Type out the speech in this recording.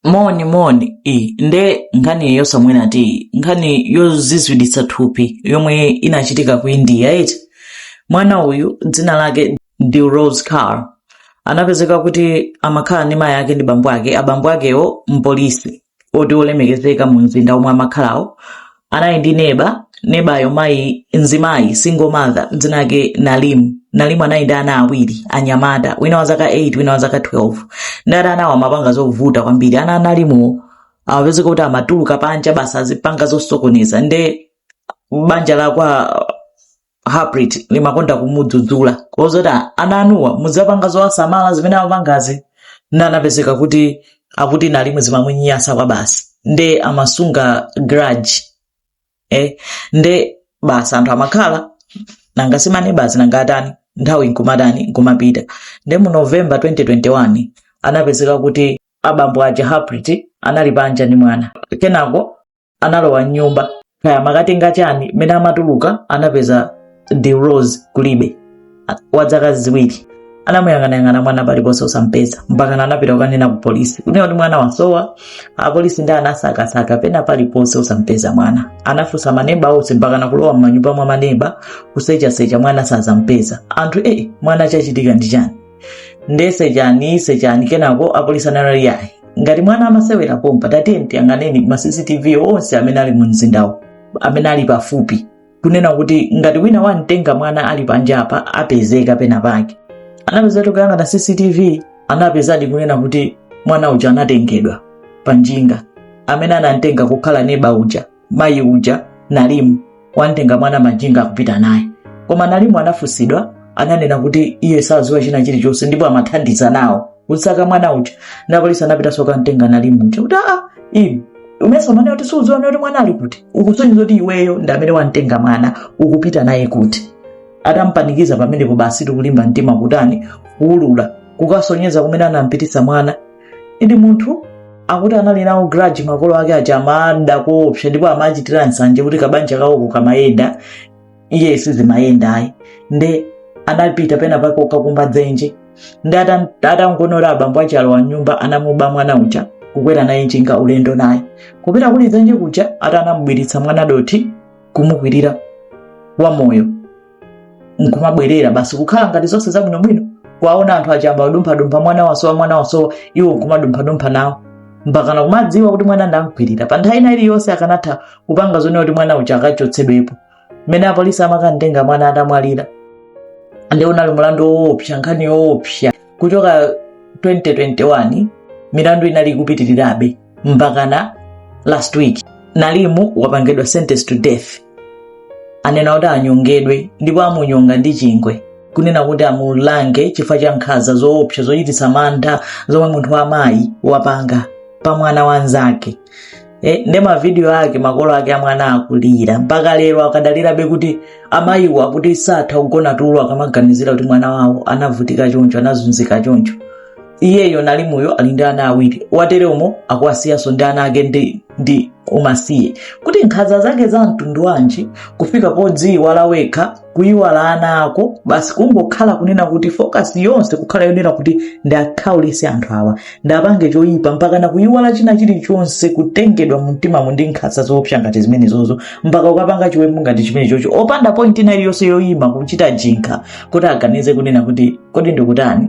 moni moni iyi nde nkhani yosamwera tiyi nkhani yozizwitsa thupi yomwe inachitika ku india eti mwana uyu dzina lake dilrose kaur anapezeka kuti amakhala ndi mayi ake ndi bambo ake abambo akewo mpolisi oti olemekezeka mu mzinda omwe amakhalawo anali ndi neba nebayo mayi mzimayi single mother dzina lake nalimu nalimu anali ndi ana awiri anyamata wina wa zaka 8 wina wa zaka 12 ndati anawo amapanga zovuta kwambiri ana a nalimuwo amapezeka kuti amatuluka panja basi azipanga zosokoneza nde banja la kwa harpreet limakonda kumudzudzula kozoti ana anuwa muziwapanga zowasamala zimene amapangazi nde anapezeka kuti akuti nalimu zimamunyasa kwabasi nde amasunga grudge eh, nde basi anthu amakhala nanga si maneba basi nanga atani nthawi nkumatani nkumapita nde mu november 2021 anapezeka kuti abambo aja harpreet anali panja ndi mwana kenako analowa mnyumba kaya amakatenga chani mmene amatuluka anapeza dilrose kulibe A- wa zaka ziwiri anamuyang'anayang'ana mwana paliponse osampeza mpakana anapita kukanena ku polisi kunena kuti mwana wasowa apolisi ndi anasakasaka pena paliponse osampeza mwana anafunsa maneba onse mpakana kulowa m'manyumba mwa maneba kusechasecha mwana osampeza anthu e mwana chachitika ndi chani nde sechani sechani kenako apolisi anali yayi ngati mwana amasewera pompa tatiyeni tiyang'aneni ma cctv onse amene ali mu mzindawo amene ali pafupi kunena kuti ngati wina wamtenga mwana ali panjapa apezeka pena pake anapeza kuti kuyang'ana cctv anapezadi kunena kuti mwana uja anatengedwa pa njinga amene anamtenga kukhala neba uja mayi uja nalimu wamtenga mwana panjinga akupita naye koma nalimu anafunsidwa ananena kuti iye saziwa china chilichonse ndipo amathandiza nawo kusaka mwana uja apolisi anapitanso kukamtenga nalimu uja kuti aa inu umesa umanena kuti suuziwa zoti mwana ali kuti ukusonyeza kuti iweyo ndi amene wamtenga mwana ukupita naye kuti atampanikiza pamenepo basi ndi kulimba mtima kutani kuulula kukasonyeza kumene anampititsa mwana indi munthu akuti anali nawo grudge makolo ake aja amawada koopsa ndipo amachitira nsanje kuti kabanja kawo kamayenda iye sizimayenda ayi nde anapita pena pake kukakumba dzenje ndi atan- atangoona abambo aja alowa mnyumba anamuba mwana uja kukwera naye njinga ulendo naye kupita kudi dzenje kuja akuti anamubwiritsa mwana dothi kumukwirira wamoyo nkumabwerera basi kukhala ngati zonse zabwinobwino kuwaona anthu ayamba kudumphadumpha mwana wasowa mwana wasowa iwo nkumadumphadumpha nawo mpakana kumadziwa kuti mwana ndamgwirira pa nthawi ina iliyonse akanatha kupanga zonena kuti mwana uja akachotsedwepo mmene apolisi amakantenga mwana atamwalira nde unali mulandu woopsa nkhani yoopsa kuchoka 2021 milandu inali ikupitirirabe mpakana last week nalimu wapangidwa sentence to death anena kuti anyongedwe ndipo amunyonga ndi chingwe kunena kuti amulange chifukwa cha nkhanza zoopsa zochititsa mantha zomwe munthu wamayi wapanga pa mwana wanzake nde mavidiyo ake makolo ake amwana akulira mpaka lero akadalirabe kuti amayiwo akuti satha kugona tulo akamaganizira kuti mwana wawo anavutika choncho anazunzika choncho iyeyo nalimuyo ali ndi ana awiri wateremu akuwasiyanso ndi ana ake ndi, ndi umasiye kuti nkhanza zake za mtundu wanji kufika podziiwala wekha kuiwala ana ako basi kungokhala kunena kuti focus yonse kukhala yonena kuti ndakhaulise anthu awa ndapange choyipa mpakana kuiwala china chilichonse kutengedwa mumtimamu ndi nkhanza zoopsa ngati zimenezozo mpaka kukapanga chiwembu ngati chimenechocho opanda point ina iliyonse yoyima kuchita jinkha kuti aganize kunena kuti kodi ndikutani